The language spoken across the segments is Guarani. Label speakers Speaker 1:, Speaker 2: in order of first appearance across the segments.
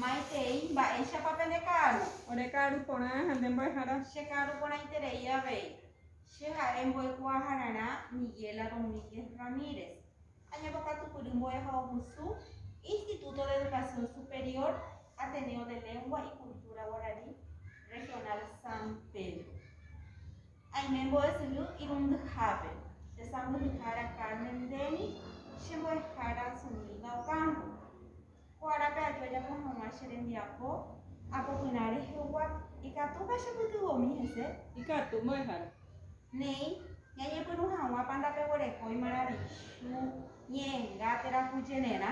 Speaker 1: Maitei, mba'éichapa pende ka'aru? Ore ka'aru porã ha nde mbo'ehára. Che ka'aru porãiterei avei. Che ha'e mbo'ekuaahararã Miguela Domínguez Ramírez. Añepo katupyry mbo'ehaovusu Instituto de Educación Superior Ateneo de Lengua y Cultura Guarani Regional San Pedro. Aime mbo'esyry irundyhápe. Che sãmbyhyhára Carmen ndéni, che mbo'ehára Zumilda Ocampo. Ko árape aju ajapo hag̃ua che rembiapo, apopyrã rehegua, ikatúpa chepytyvõmi hese? Ikatu, mbo'ehára. Néi, ñañepyrũ hag̃ua panda peguerekói maravichu, ñe'ẽnga, térã ku jenerã.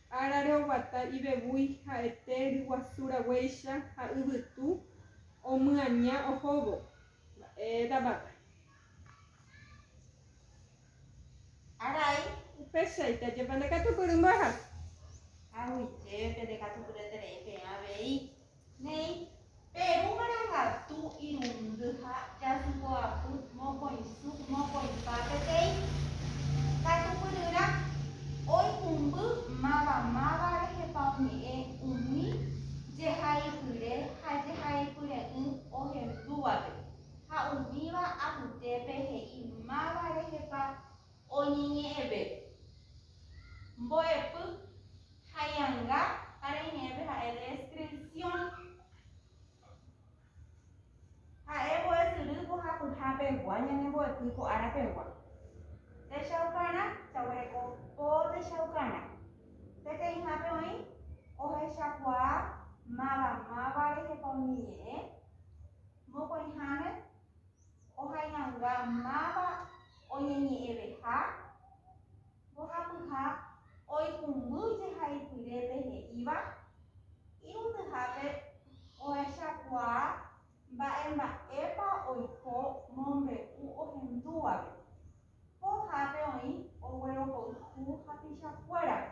Speaker 1: Árare oguata ivevúi ha'ete ryguasu raguéicha ha yvytu omyaña ohóvo. Mba'éta vaka. Arai. Upéichaite ajépa ndekatupyry mbo'ehápe. Haguitépe ndekatupyreterei peẽ avei. Néi, Peru marangatu irundy ha jasypoapy mokõisu mokõipa peteĩ katupyryrã oikũmby mavamáva rehepa oñe'ẽ umi jehaipyre ha jehaipyre'ỹ ohendúvape ha umíva apytépe he'i máva rehepa oñeñe'ẽvépe. Mbo'epy. Haianga ára iñe'ẽpe ha'e descripción. Ha'e mbo'esyry mbohapyha pegua ñane mbo'epy ko ára pegua. Techaukarã, jaguereko po techaukarã. Peteĩhápe oĩ ohechakuaa máva máva rehepa umi ñe'ẽ, mokõiháme ohaianga máva oñeñe'ẽveha, Mbohapyha oikũmby jehaipyrépe he'íva irundyhápe ohechakuaa mba'emba'épa oiko mombe'u ohendúvape. Pohápe oĩ oguerohoyhu hapichakuérape.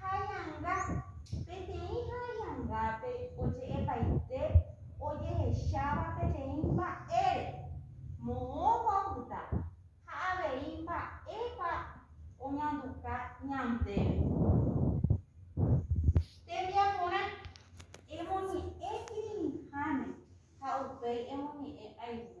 Speaker 1: Haianga. Peteĩ haiangápe oje'epaite ojehecháva peteĩ mba'ére, moõpa opyta ha avei mba'épa oñanduka ñandéve. Tembiaporã, emoñe'ẽ kirirĩháme ha upéi emoñe'ẽ ayvu.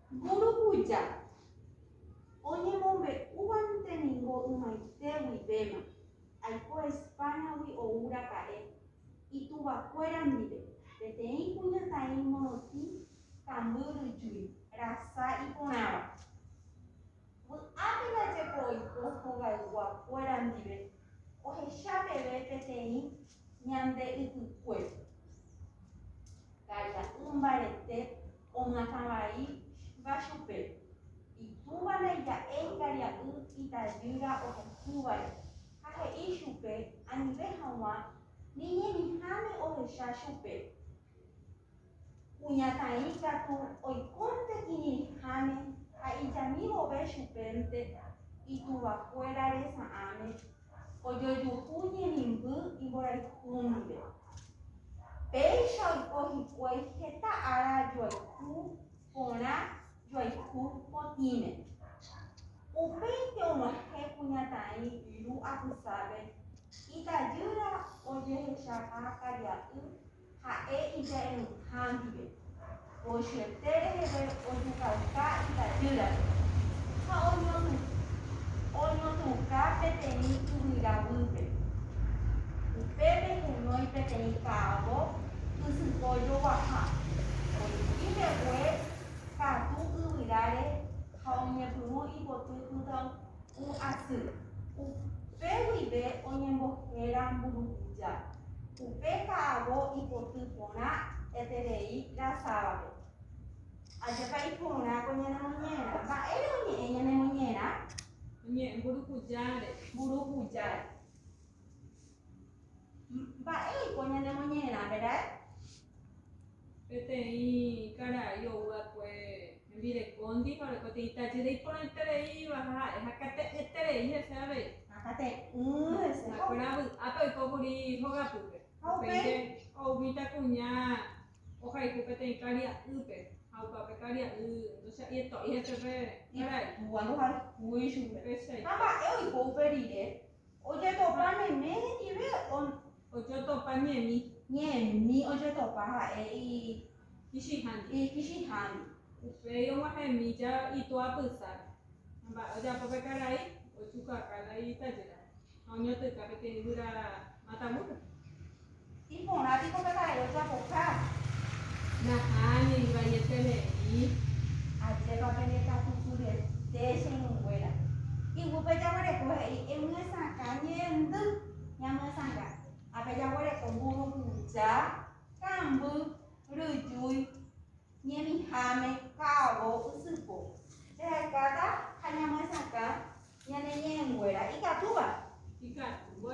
Speaker 1: Mburukuja oñemombe'úvante ningo ymaite guivéma, aiko España-gui ou raka'e, ituvakuéra ndive, peteĩ kuñataĩ morotĩ kambyryjúi, rasa iporãva. Vy'ápe ndajepo oiko hogayguá kuéra ndive ohecha peve peteĩ ñande ypykuépe. Ka'ira'y mbarete oñatã vai va chupe, itúva ndaija'éi karia'y itajýra ohehúvare ha he'i chupe anive haguã ni ñemiháme ohecha chupe. Kuñataĩ katu oikónte kirirĩháme ha ijami vove chupénte ituvakuéra resa'ãme ojojuhu ñemimby imborayhu ndive. Péicha oiko hikuái heta ára joayhu porã joayhu potĩme. Upéinte og̃uahẽ kuñataĩ Lu apysápe, itajýra ojehechaha karia'y Ha'e ija'eruha ndive, pochyeté reheve ojukauka itajýrape ha oñotũka peteĩ yvyra guýpe. Upépe kunói peteĩ ka'avo ysypo joguaha, oĩki mbegue katu yvyráre ha oñepyrũ ipoty pytãunguépe. Ku asy. Upe guive oñembohéra mburukuja. Upe ka'avo ipoty porã eterei rasávape. Ajekai porã ko ñane moñera. Mba'ére oñe'ẽ ñane moñera? Oñe'ẽ mburukujáre. Mburukujáre. Mba'éiko ñane moñera, verái? peteĩ karai ou va'ekue hembirekóndi ha ore peteĩ tajýra iporãitereíva ha ha'e hakate'ẽterei hese avei. Hakate'ỹ hese. Ha'ekuéra vy'ápe oiko kuri hogapýpe. Ha upéi. Ou mitã kuña ohayhu peteĩ karia'ýpe ha opa pe karia'y ndocha'yeto'i hese pe karai. Itúa ndohayhúi chupe. Péicha. Ha mba'e oiko upe rire. Ojetopa meme hendive on. Ojotopa ñemi. Ñemi ojetopa ha'e ikichĩhándi. Ikichĩhándi. Upéi og̃uahẽmi ja itu'a pysa. Mba'e ojapo pe karai, ojuka kala itajýra ha oñotỹka peteĩ guyra matavúpe. Iporã piko tata'e ojapoha. Nahániri vaieterei. Ajépa pene katukurete che irũnguéra. Iguýpe jaguereko he'i emyesakã ñe'ẽndy ñamyesanga. Ápe jaguereko mburukuja, kamby, ryjúi, ñemiháme, ka'avo, ysypo. Jahekáta ha ñamyesakã ñane ñe'ẽnguéra ikatúva. Ikatúva.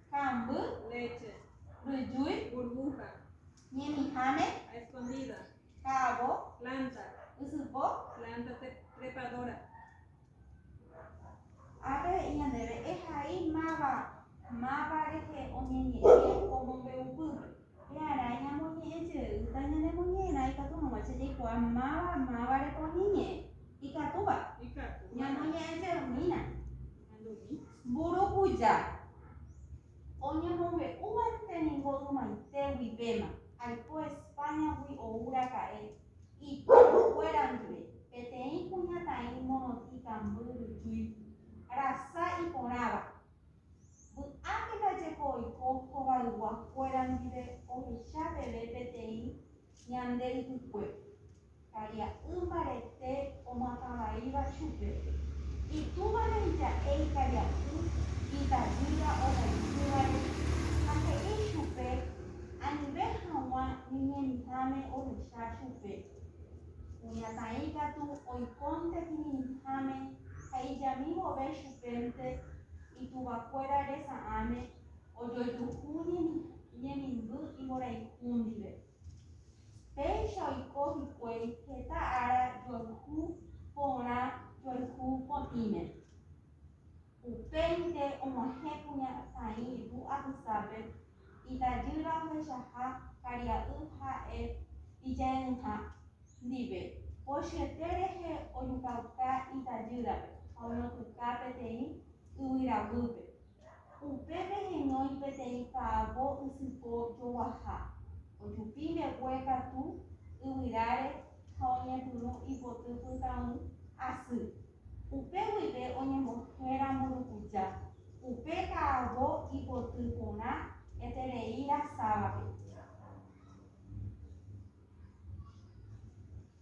Speaker 1: Ka'amby. Léche. Ryjúi. Burbuja. Ñemiháme. A escondida. Ka'avo. Planta. Ysypo. Planta trepadora. Ápe he'i ñandéve ehai máva máva rehe oñeñe'ẽ omombe'upy. Pearã ñamoñe'ẽ jeýta ñanemoñe'ẽrã ikatu hag̃ua che jaikuaa máva mávare poñy ñe'ẽ. Ikatúva? Ikatúva. Ñamoñe'ẽ jeymína. Andumi. Mburukuja. Oñemombe'úvante ningo ymaite guivéma, aiko Españagui ou raka'e, itorrokuéra ndive, peteĩ kuñataĩ morotĩkamby ryjúi, rasa iporãva. Vy'ápe ndaje ko oiko hovaygua kuéra ndive ohecha peve peteĩ ñande ypykue, karia'y mbarete omatavãíva chupe, itúva reija'e ikaria'y itavýra ohayhúvare ha he'i chupe anive haguã ñeñemitãme ohecha chupe. Kuñataĩ katu oikónte kirirĩháme ha ijami vove chupénte ituvakuéra resa'ãme ojojuhu ñemimby imborayhu ndive. Péicha oiko hikuái heta ára joayhu porã joayhu potĩme. Upéinte og̃uahẽ kuña Saĩ ru apysápe, itajýra ohechaha karia'y ha'e ije'ỹha ndive, pochyete rehe ojukauka itajýrape ha oñotỹka peteĩ yvyra guýpe. Upépe heñói peteĩ ka'avo ysypo joguaha, ojupi mbegue katu yvyráre ha oñepyrũ ipoty pytãy asy. Upe guive oñembohéra mburukuja, upe ka'avo ipoty porã eterei rasávape.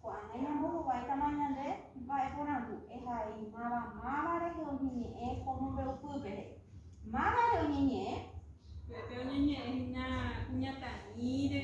Speaker 1: Ko'ág̃a ñambohováitama ñande mba'e porandu ehaimáva máva rehe oñeñe'ẽ ko mombe'upy pere. Máva rehe oñeñe'ẽ? Upépe oñeñe'ẽ hína kuñataĩre.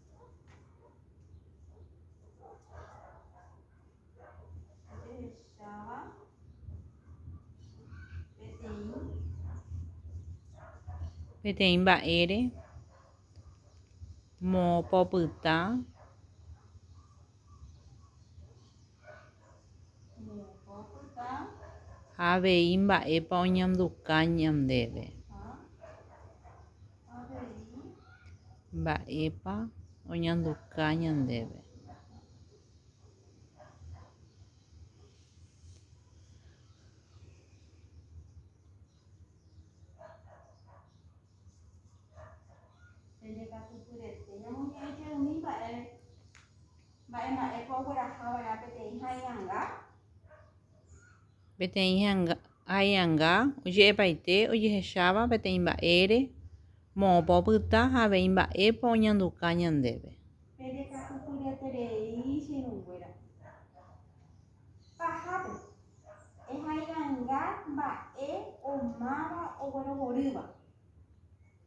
Speaker 1: Ajehecháva peteĩ peteĩ mba'ére moõpa opyta ha avei mba'épa oñanduka ñandéve. Mba'épa oñanduka ñandéve? Peteĩ hai'anga oje'epaite ojehecháva peteĩ mba'ére, moõpa opyta ha avei mba'épa oñanduka ñandéve. Pereka'upyreterei che irũnguéra. Pahápe, ehai'anga mba'e omáva oguerohorýva.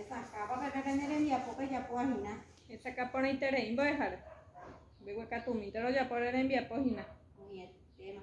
Speaker 1: Esakãpa pe pépe ne rembiapo pejapo ahina. Esakã porãiterei mbo'ehára. Mbeguekatũmínte rojapo ore rembiapo hína. Omyetéma.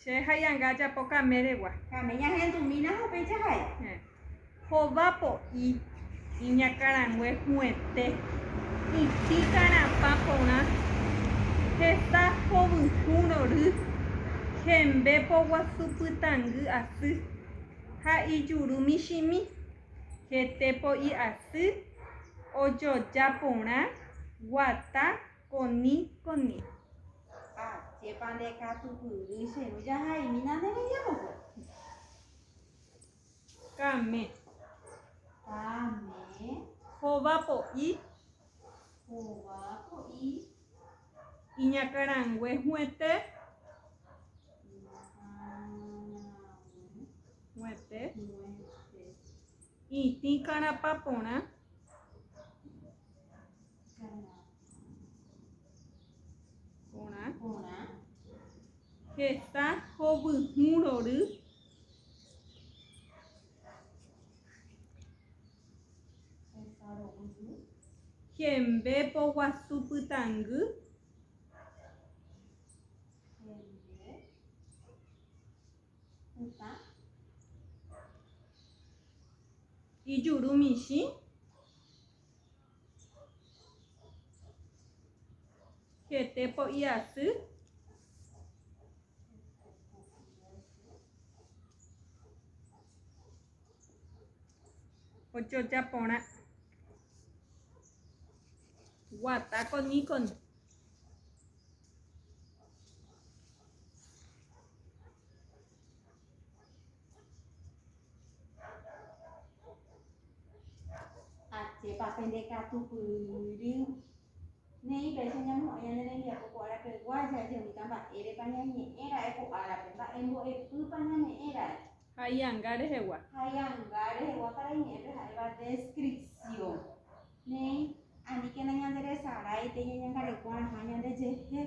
Speaker 1: Che haianga ajapo kaméregua. Kame ñahendumína ha upéicha ha'e. Hova po'i. Iñakãrangue hu'ẽte. Iti karãpa porã. Hesa hovyũ rory. Hembe poguasu pytangy asy. Ha ijuru michĩmi. Hete po'i asy. Ojoja porã. Guata. Koni, koni. Ha chépa nde katupyry che ru jahaimína nde rembiapokuéra. Kame. Kame. Hova po'i. Hova po'i. Iñakãrangue huete. Huete. Itĩ karapa porã. Porã. Porã. Heta hovyhũ rory. Heta rovyhũ. Hembe poguasu pytangy. Hembe. Pytã. Ijuru michĩ. Hete po'i aty. Ojoja porã. Guata con Nikon. Ajépa pende katu pyry. Neí péicha ñamo'ẽ ñane rembiapo ko árapeguá jajemíta mba'érepa ñañe'ẽ ra'e ko árape, mba'embo'epýpa ñame'ẽ ra'e. Ha'ianga rehegua. Ha'ianga rehegua para iñe'ẽpe ha'éva descripción. Neí aníkena ñanderesarái pe ñañangareko rãha ñandejehe.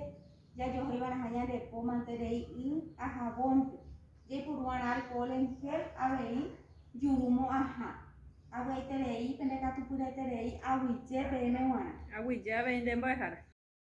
Speaker 1: Jajohéi va'erãha ñande po mante rei y ha javónpe. Jaipuru va'erã alkohol en gel avei juru mo'ãha. Avy'aiterei pende katupyryete rei aguyje peẽme g̃uarã. Aguyje avei nde mbo'ehára.